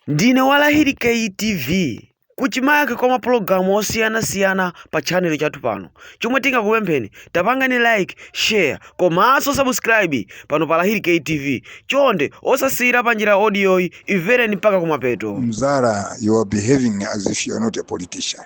Ndine wa Lahiri K TV. Kuchimake kwa mapulogalamu osiyanasiyana pa channel chathu pano. Chomwe tingakupempheni, tapangani like, share komanso subscribe pano pa Lahiri K TV. Chonde osasiyira panjira audiyoyi, imvereni mpaka kumapeto. Mzara, you are behaving as if you are not a politician.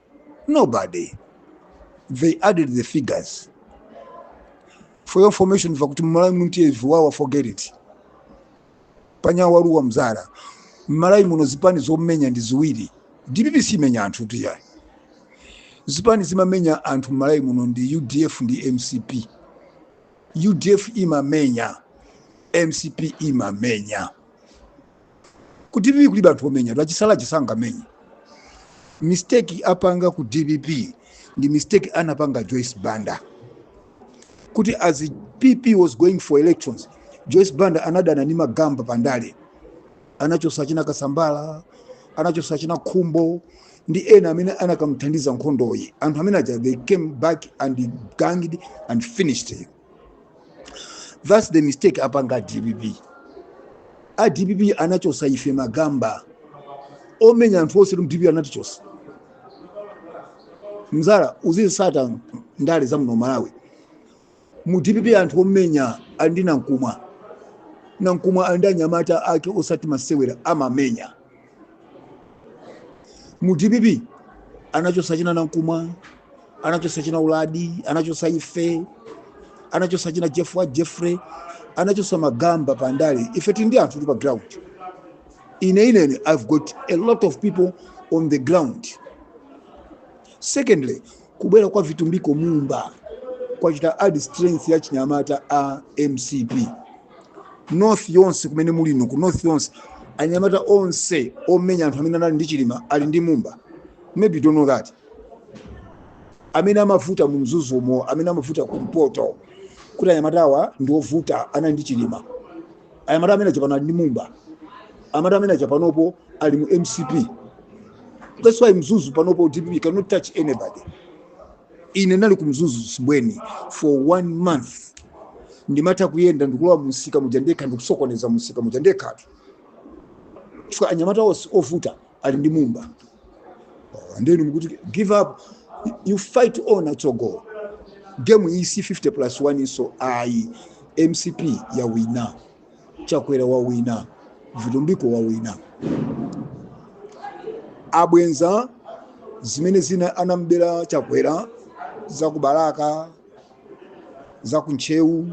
nobody they added the figures for your information mva kuti mmalawi muntiye viwawa forget it panyawa waluwa mzara mmalawi muno zipani zomenya ndi ziwiri dpp simenya anthu tiyayi zipani zimamenya anthu mmalawi muno ndi udf ndi mcp udf imamenya mcp imamenya Ku dpp kulibe anthu omenya, achisale aja sangamenye. Mistake apanga ku dpp ndi mistake anapanga Joyce Banda kuti as PP was going for elections, Joyce Banda anadana ndi magamba pandale, anachosa achina Kasambala, anachosa achina Khumbo ndi ena amene anakamuthandiza nkhondoyi. Anthu amene aja they came back and ganged and finished. that's the mistake apanga dpp a dpp anachosa ife magamba omenya anthu onse mdpp anatichosa mzara uzitsata ndale za muno malawi mu dpp anthu omenya ali ndi nankhumwa nankhumwa ali ndi anyamata ake osati masewera amamenya mu dpp anachosa achina nankhumwa anachosa achina uladi anachosa ife anachosa achina jeff jeffrey anachosa magamba pa ndale ife tili ndi anthu tili pa ground ine ineyo i've got a lot of people on the ground secondly Kubwera kwa Vitumbiko Mumba kwachita add strength ya chinyamata a mcp north yonse kumene muli inu ku north yonse anyamata onse omenya anthu amene anali ndi chilima ali ndi mumba maybe you don't know that amene amavuta mu mzuzu umo amene amavuta ku mpoto kuti anyamata awa ndi ovuta anali ndi chilima anyamata amene aja pano ali ndi mumba anyamata amene aja panopo ali mu mcp that's why mzuzu panopo dpp cannot touch anybody ine nali ku mzuzu sibweni for one month ndimatha kuyenda ndikulowa mumsika muja ndekha ndikusokoneza mumsika muja ndekhatu chifukwa anyamata onse ovuta ali ndi mumba Oh, and then mukuti give up you fight on atsogo game iyi si 50 plus 1nso ayi mcp yawina Chakwera wawina, Vitumbiko wawina. Abweza zimene zina anambera Chakwera za ku Balaka, za ku Ntcheu,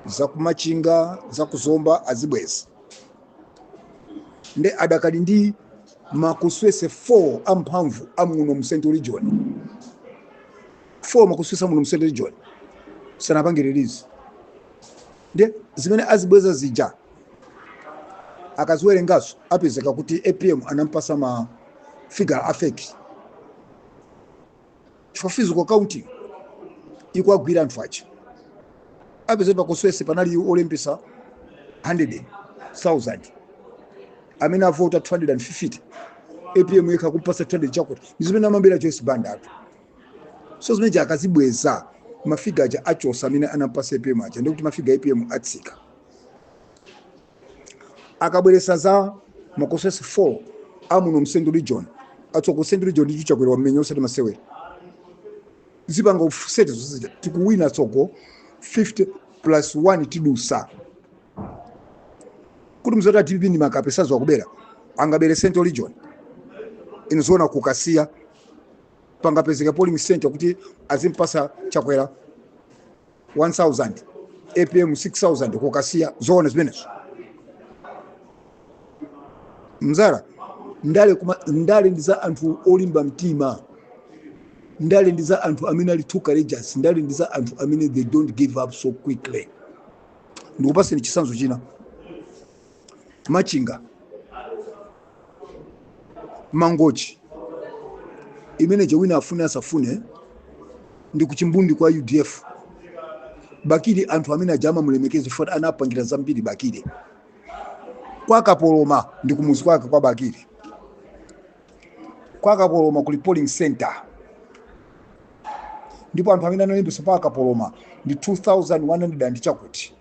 za ku Machinga, za ku Zomba azibweza. Nde adakali ndi ma constituency 4 amphamvu amuno mu Central Region. 4 ma constituency amuno mu Central Region. Sanapange release. nde zimene azibweza zija akaziwerengazo apezeka kuti apm anampasa ma figure a fake chifukwa physical counting ikwagwira anthu aja apeze kuti pa constituency panali olembesa 100,000 amene avota 250 apm yekha kumpasa 200 chakuti ndi zimene amambera joyce bandatu so zimene zija akazibweza mafiga aja achosa amene anampasa apm aja ndikuti mafiga apm atsika akabweresa za ma constituency 4 amuno mu central region atsoka ku central region ndicho chakwera wamenya usati masewera zipanga offset zozija tikuwina tsoko 50 plus 1 tidusa kuti mzoti a dpp ndi makape saziwa kubera angabere central region ino zoona ku kasiya pangapezeka polling center kuti azimpasa chakwera 1000 apm 6000 ku kasiya zoona zimenezo mzala ndale ndi za anthu olimba mtima ndale ndi za anthu amene ali too courageous ndale ndi za anthu amene they don't give up so quickly ndikupaseni chisanzo china Machinga, Mangochi, imene ija wina afune asafune ndi kuchimbundi kwa UDF. Bakili anthu amene aja amamulemekeza chifukwa anapangira zambiri Bakili kwa Kapoloma ndi kumuzi kwake kwa Bakili. kwa kapoloma kuli polling center ndipo anthu amene analembetsa pa kapoloma ndi 2100 and chakuti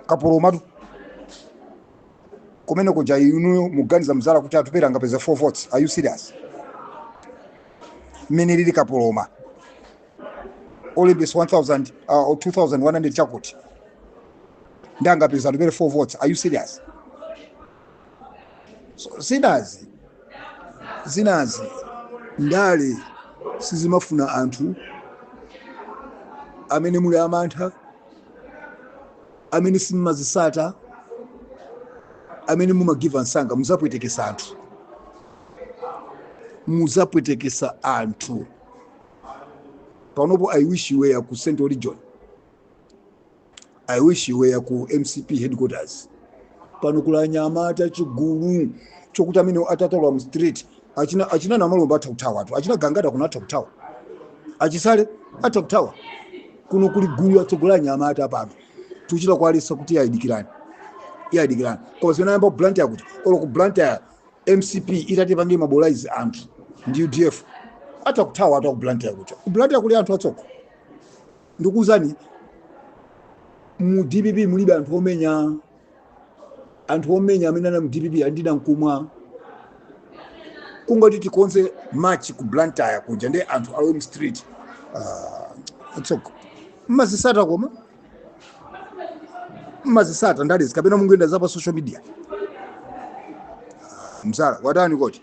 kapolomatu kumene kuja inuyo muganiza mzala kuti atupele angapeza 4 votes are you serious mmene lili kapoloma olembesa 1000 uh, 2100 chakuti nde angapeza atupele 4 votes are you serious So, zinazi zinazi ndale sizimafuna anthu amene muli amantha amene simumazisata amene mumagiva msanga muzapwetekesa anthu muzapwetekesa anthu panopo i wish you were ku central region I wish you were ku mcp headquarters pano kuli anyamata chigulu chokuti amene atatalowa mu street achina, achina namalomba atha kuthawa tu achina gangata kuno atha kuthawa achisale atha kuthawa kuno kuli gulu latsogola anyamata pano tuchita kuwaletsa kuti ayi dikirani iyayi dikirani koma zimene ayamba ku blantyre kuti olo ku blantyre mcp itati pange mobilize anthu ndi udf atha kuthawa atha ku blantyre kuja ku blantyre kuli anthu atsoko Ndikuuzani, mu dpp mulibe anthu omenya. Anthu omenya amene anali mu dpp ali ndi nankumwa. Kungoti tikonze march ku Blantyre kuja ndi anthu alowe mu street. Ah, atsoko. Mmazisata koma? Mmazisata ndale izi kapena mungoyendera za pa social media? Ah, Mzala, watani koti?